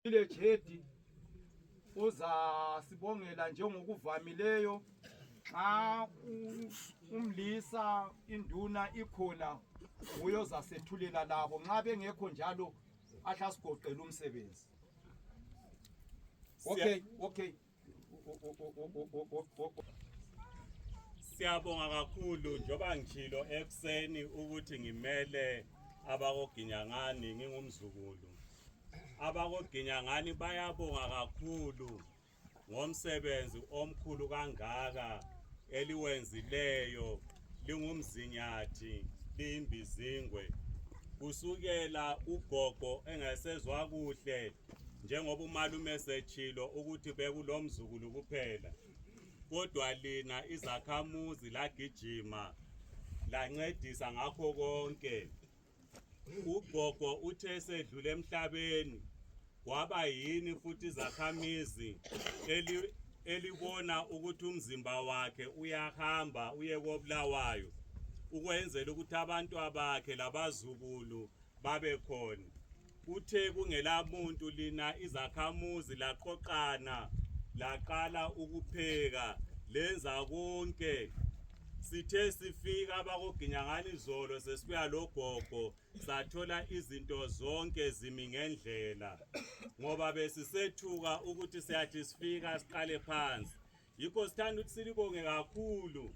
Ile Jedi uzasibongela njengokuvamileyo nxa umlisa induna ikhona nguye ozasethulela labo nxa bengekho njalo ahle asigoqele umsebenzi okay okay Siyabonga kakhulu njoba ngijilo ekuseni ukuthi ngimele abakoGinyangani ngingumzukulu. AbakoGinyangani bayabonga kakhulu ngomsebenzi omkhulu kangaka eliwenzileyo lingumzinyathi liyimbizingwe kusukela ugogo engasezwa kuhle njengoba umalume setshilo ukuthi bekulomzukulu kuphela kodwa lina izakhamuzi lagijima lancedisa ngakho konke ugogo uthe esedlule emhlabeni kwaba yini futhi izakhamizi elibona ukuthi umzimba wakhe uyahamba uye kobulawayo ukwenzela ukuthi abantu abakhe labazukulu babe khona Kuthe kungela muntu lina izakhamuzi laqoqana laqala ukupheka lenza konke sithe sifika abakoginyangani izolo sesibuya logogo sathola izinto zonke zimi ngendlela ngoba besisethuka ukuthi siyathi sifika siqale phansi yikho sithanda ukuthi silibonge kakhulu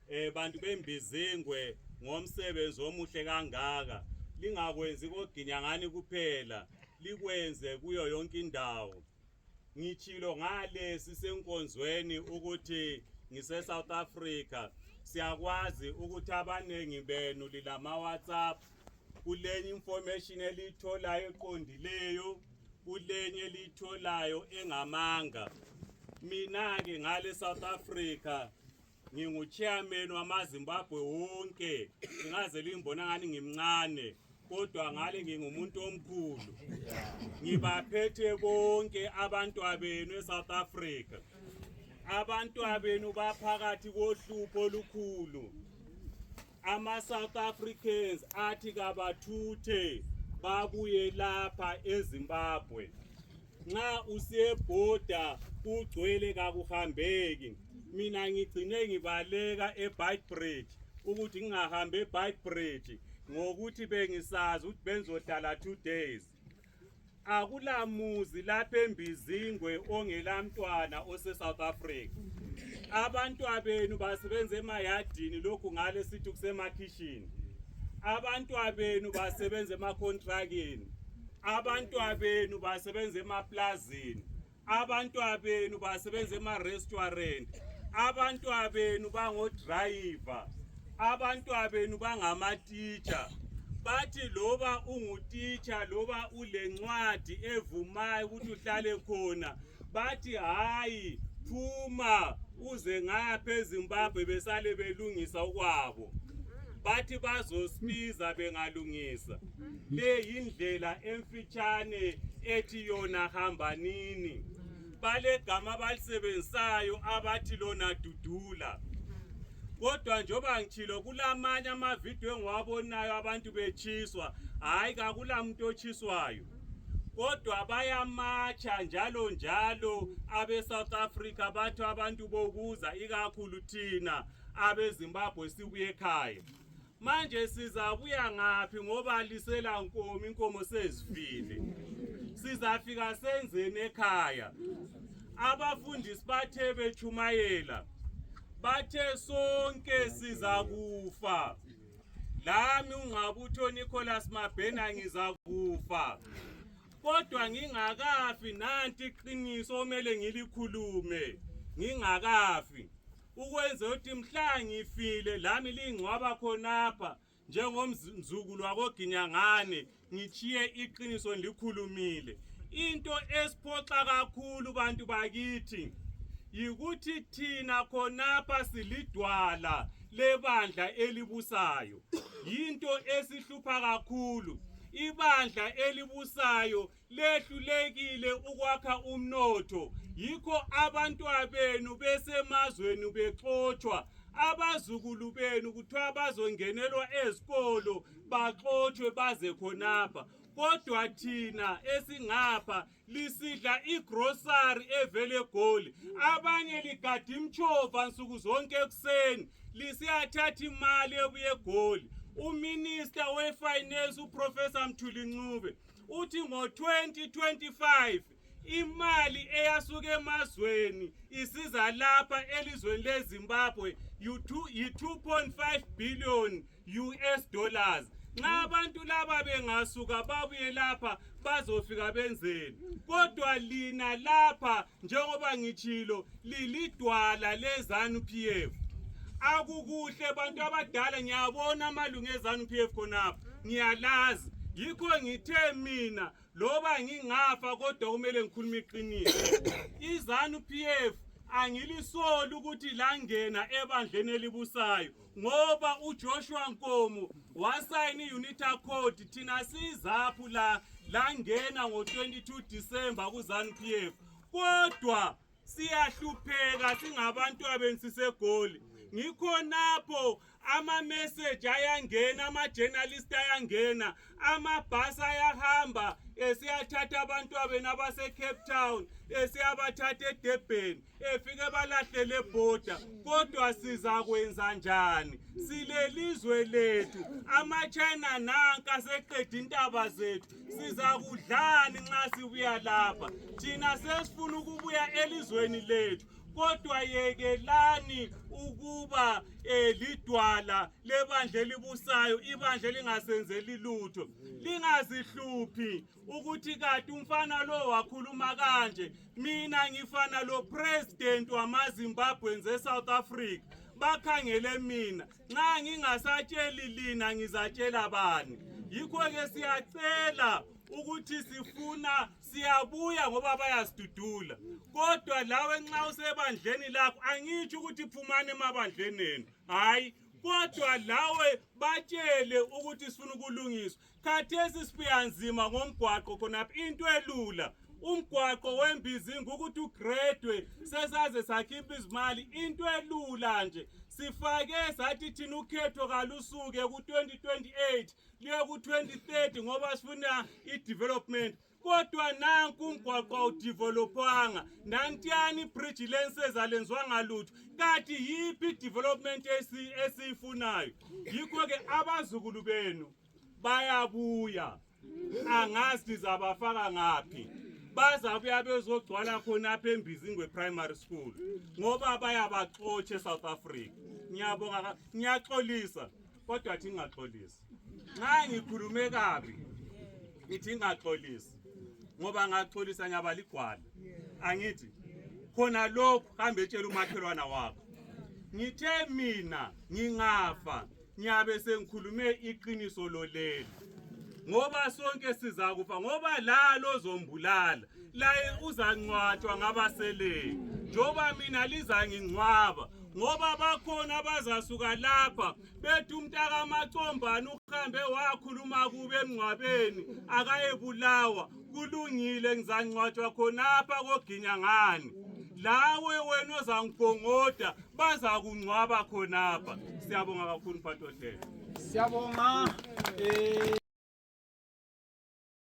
eh bantu bembizengwe ngomsebenzi omuhle kangaka lingakwenzi koginyangani kuphela likwenze kuyo yonke indawo ngitshilo ngale sisenkonzweni ukuthi ngise-south africa siyakwazi ukuthi abaningi benu lilama-whatsapp kulenye information eliyitholayo eqondileyo kulenye eliyitholayo engamanga mina-ke ngale south africa nginguchairman wamazimbabwe wonke ngingaze limbona ngani ngimncane kodwa ngale ngingumuntu omkhulu ngibaphethe bonke abantwabenu esouth africa abantwabenu baphakathi kohlupho olukhulu ama South Africans athi kabathuthe babuye lapha eZimbabwe nxa usiyebhoda kugcwele kakuhambeki mina ngigcine ngibaleka eBightbridge ukuthi ngingahambi eBightbridge ngokuthi bengisazi ukuthi benzohlala two days akulamuzi lapha embizingwe ongelamntwana ose-south africa abantwabenu basebenza emayadini lokhu ngale sithi kusemakhishini abantwabenu basebenza emakontrakini abantwabenu basebenza emaplazini abantwabenu basebenza ema-restaurant abantwabenu bangodrayiva abantwabenu bangamatitsha bathi loba ungutitsha loba ulencwadi evumayo ukuthi uhlale khona bathi hhayi phuma uze ngapha ezimbabwe besale belungisa okwabo bathi bazosibiza bengalungisa le yindlela emfitshane ethi yona hambanini balegama abalisebenzisayo abathi lona dudula kodwa njengoba ngitshilo kulamanye amavidiyo engiwabonayo abantu betshiswa hhayi kakula muntu otshiswayo kodwa bayamatsha njalo njalo abe-south africa bathi abantu bokuza ikakhulu thina abezimbabwe sibuye ekhaya manje sizabuya ngaphi ngoba lisela nkomo inkomo sezifile sizafika senzeni ekhaya abafundisi bathe bechumayela bathe sonke sizakufa lami ungqabutho Nicholas Mabhena ngizakufa kodwa ngingakafi nanti iqiniso omele ngilikhulume ngingakafi ukwenze ukuthi mhla ngifile lami lingcwaba khonapha njengomzukulu wakoginyangane ngitshiye iqiniso ngilikhulumile into esiphoxa kakhulu bantu bakithi yikuthi thina khonapha silidwala lebandla elibusayo yinto esihlupha kakhulu ibandla elibusayo lehlulekile ukwakha umnotho yikho abantwabenu besemazweni bexotshwa abazukulu benu kuthiwa bazongenelwa ezikolo baxotshwe baze khonapha kodwa thina esingapha lisidla igrosari evele egoli abanye ligada imtshova nsuku zonke ekuseni lisiyathatha imali ebuye egoli uminista wefinance uprofessor mthuli ncube uthi ngo-2025 imali eyasuka emazweni isiza lapha elizweni lezimbabwe yi-2.5 billion us dollars nxa abantu laba bengasuka babuye lapha bazofika benzeni kodwa lina lapha njengoba ngitshilo lilidwala lezanu PF akukuhle bantu abadala ngiyabona amalungu ezanu PF khonapha ngiyalazi yikho ngithe mina loba ngingafa kodwa kumele ngikhulume iqiniso izanu PF angilisoli ukuthi langena ebandleni elibusayo ngoba uJoshua Nkomo wasayina iUnita Code thina sizaphu la langena ngo22 December kuZanu PF kodwa siyahlupheka singabantu abensisegoli ngikhonapho amameseji ayangena amajenalisti ayangena amabhasi ayahamba esiyathatha abantu abenu abasecape town esiyabathatha edebheni efike balahlele ebhoda kodwa sizakwenza njani silelizwe lethu amachina nanka seqeda intaba zethu sizakudlani nxa sibuya lapha thina sesifuna ukubuya elizweni lethu kodwa yekelani ukuba um lidwala lebandla elibusayo ibandla elingasenzeli lutho lingazihluphi ukuthi kati umfana lo wakhuluma kanje mina ngifana lo president wamazimbabweans esouth africa bakhangele mina nxa ngingasatsheli lina ngizatshela bani yikho-ke siyacela ukuthi sifuna siyabuya ngoba bayasidudula kodwa lawe nxa usebandleni lakho angitsho ukuthi phumani emabandleni enu hhayi kodwa lawe batshele ukuthi sifuna ukulungiswa khathesi sibuya nzima ngomgwaqo khonapha into elula umgwaqo wembizi ngukuthi ugradwe sesaze sakhipha izimali into elula nje sifake sathi thina ukhetho kalusuke ku-2028 liye ku-2030 ngoba sifuna i-development kodwa nanku umgwaqo awudevelopwanga nantiyani bridge lenseza lenzwanga lutho kati yiphi development esiyifunayo yikho-ke abazukulu benu bayabuya angazi ndizabafaka ngaphi bazabuya bezogcwala khonapha embizingwe primary school ngoba bayabaxotshe south africa ngiyaxolisa kodwa thi ngaxolisi nxa ngikhulume kabi ngithi ngaxolisi ngoba ngaxolisa nyaba ligwala angithi khona lokhu hambe etshela umakhelwana wakho ngithe mina ngingafa ngiyabe sengikhulume iqiniso loleli ngoba sonke sizakufa ngoba lalo zombulala laye uzangcwatshwa ngabaseleyo njengoba mina lizangingcwaba ngoba bakhona abazasuka lapha bethi umntakamacombane uhambe wakhuluma kube emngcwabeni akayebulawa kulungile ngizangcwatshwa khonapha koginya ngani lawe wena ozangigongoda bazakungcwaba khonapha siyabonga kakhulu mphathi ohlelo siyabonga um